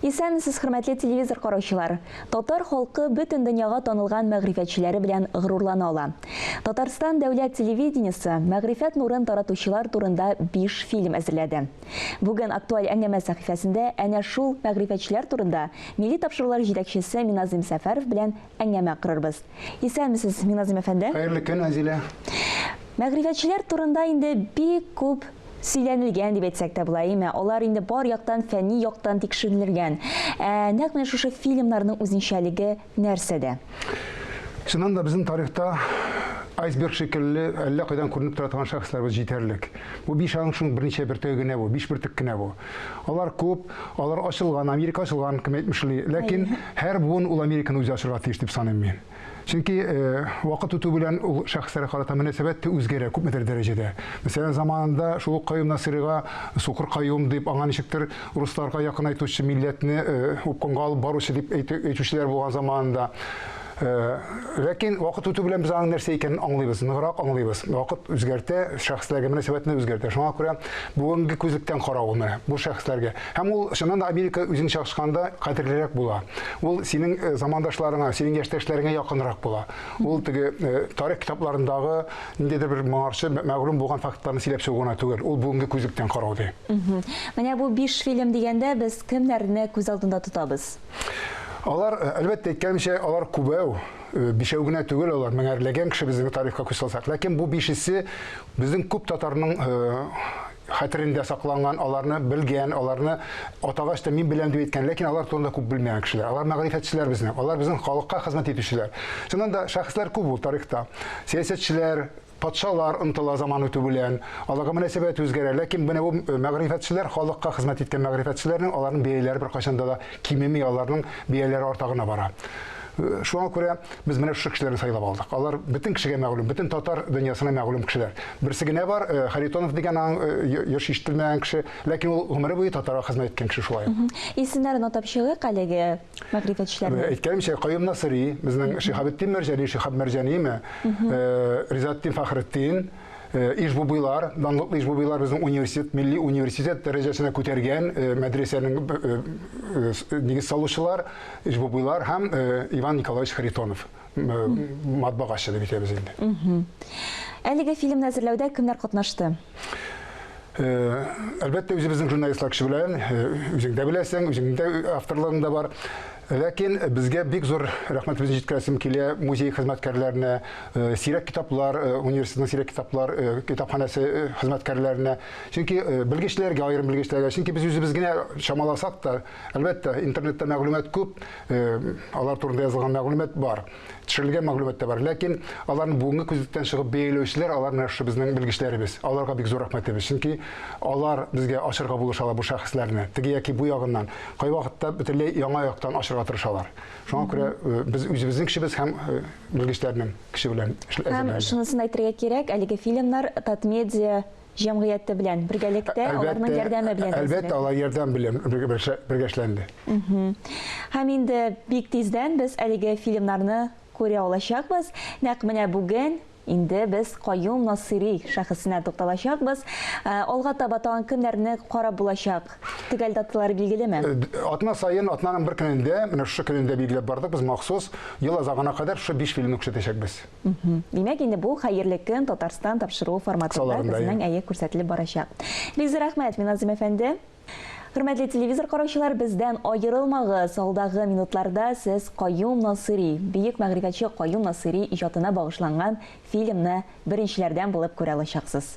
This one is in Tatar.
Исәнмесез, хөрмәтле телевизор караучылар! Татар халкы бөтен дөньяга танылган мәгърифәтчеләре белән горурлана ала. Татарстан дәүләт телевидениесе мәгърифәт нурын таратучылар турында биш фильм әзерләде. Бүген Актуаль әңгәмә сәхифәсендә әнә шул мәгърифәтчеләр турында милли тапшырулар җитәкчесе Миназыйм Сәфәров белән әңгәмә корырбыз. Исәнмесез, Миназым әфәнде! Хәерле көн, Азилә! Мәгърифәтчеләр турында инде бик күп сөйләнелгән дип әйтсәк тә була, әйеме? Алар инде бар яктан, фәнни яктан тикшеренелгән. Ә нәкъ менә шушы фильмнарның үзенчәлеге нәрсәдә? Чыннан да безнең тарихта айсберг шикелле әллә кайдан күренеп тора торган шәхесләребез җитәрлек. Бу биш аның шуның берничә бөртеге генә бу, биш бөртек кенә бу. Алар күп, алар ачылган, Америка ачылган, кем әйтмешли. Ләкин һәр буын ул Американы үзе ачырга тиеш дип саныйм мин. Чөнки э, вакыт үтү белән ул шәхесләргә карата мөнәсәбәт тә үзгәрә күпмедер дәрәҗәдә. Мәсәлән, заманында шул ук Каюм Насыйрига сукыр каюм дип, аңа ничектер русларга якынайтучы, милләтне э, упкынга алып баручы дип әйтүчеләр булган заманында. Ләкин вакыт үтү белән без аның нәрсә икәнен аңлыйбыз, ныграк аңлыйбыз. Вакыт үзгәртә, шәхесләргә мөнәсәбәтне үзгәртә. Шуңа күрә бүгенге күзлектән каравына бу шәхесләргә. Һәм ул чыннан да Америка үзен чагышканда кадерлерәк була. Ул синең э, замандашларыңа, синең яшьтәшләреңә якынрак була. Ул теге э, тарих китапларындагы ниндидер бер моңарчы мәгълүм булган фактларны сөйләп чыгу гына түгел, ул бүгенге күзлектән карау ди. Менә бу биш фильм дигәндә без кемнәрне күз алдында тотабыз? Алар, э, әлбәттә, әйткәнемчә, алар күбәү, э, бишәү генә түгел алар, меңәрләгән кеше безнең тарихка күз салсак. Ләкин бу бишесе безнең күп татарның э, хәтерендә сакланган, аларны белгән, аларны атагач та мин беләм дип әйткән, ләкин алар турында күп белмәгән кешеләр. Алар мәгърифәтчеләр безнең, алар безнең халыкка хезмәт итүчеләр. Чыннан да шәхесләр күп ул тарихта. Сәясәтчеләр, Патшалар ынтыла заман үтү белән, аларга мөнәсәбәт үзгәрә. Ләкин менә бу мәгърифәтчеләр халыкка хезмәт иткән мәгърифәтчеләрнең аларның бәяләре беркайчан да да кимеми, аларның бәяләре арта гына бара. Шуңа күрә без менә шушы кешеләрне сайлап алдык. Алар бөтен кешегә мәгълүм, бөтен татар дөньясына мәгълүм кешеләр. Берсе генә бар, э, Харитонов дигән аң еш э, ишетелмәгән кеше, ләкин ул гомере буе татарга хезмәт иткән кеше шулай. Исемнәрен атап чыгыйк әлеге. мәгърифәтчеләрне. Э, әйткәнемчә, Каюм Насыри, безнең Шихабетдин Мәрҗани, Шихаб Мәрҗаниме, э, Ризатдин Фахретдин, э, Ишбубыйлар, данлыклы Ишбубыйлар безнең университет, милли университет дәрәҗәсенә күтәргән мәдрәсәнең нигез салучылар, Ишбубыйлар һәм Иван Николаевич Харитонов, матбагачы дип әйтәбез инде. Әлеге фильмны әзерләүдә кемнәр катнашты? Әлбәттә, үзебезнең журналистлар кеше белән, үзең дә беләсең, үзеңнең дә авторлыгың да бар. Ләкин безгә бик зур рәхмәтебезне җиткерәсем килә музей хезмәткәрләренә, сирәк китаплар, университетның сирәк китаплар китапханәсе хезмәткәрләренә. Чөнки белгечләргә, аерым белгечләргә, чөнки без үзебез генә чамаласак та, әлбәттә, интернетта мәгълүмат күп, алар турында язылган мәгълүмат бар. төшерелгән мәгълүмат та бар. Ләкин аларны бүгенге күзлектән чыгып бәяләүчеләр алар менә шушы безнең белгечләребез. Аларга бик зур рәхмәтебез. Чөнки алар безгә ачырга булышалар бу шәхесләрне. Теге яки бу ягыннан кайвакытта бөтенләй яңа яктан ачырга тырышалар. Шуңа күрә э, без үзебезнең кешебез һәм э, белгечләрнең кеше белән Һәм шунысын әйтергә кирәк, әлеге фильмнар Татмедиа җәмгыяте белән бергәлектә, аларның ярдәме белән. Әлбәттә, алар ярдәм белән бергә эшләнде. Һәм инде бик тиздән без әлеге фильмнарны күрә алачакбыз. Нәкъ менә бүген инде без Каюм Насыйри шәхесенә тукталачакбыз. Э, алга таба тагын кемнәрне карап булачак? Төгәл даталары билгелеме? Э, атна саен, атнаның бер көнендә, менә шушы көнендә билгеләп бардык без махсус, ел азагына кадәр шушы биш фильмны күрсәтәчәкбез. Димәк, инде бу хәерле көн Татарстан тапшыруы форматында кызның әе күрсәтелеп барачак. Бик зур рәхмәт, Миназым әфәнде. Хөрмәтле телевизор караучылар, бездән аерылмагыз. Алдагы минутларда сез Каюм Насыйри, бөек мәгърифәтче Каюм Насыйри иҗатына багышланган фильмны беренчеләрдән булып күрә алачаксыз.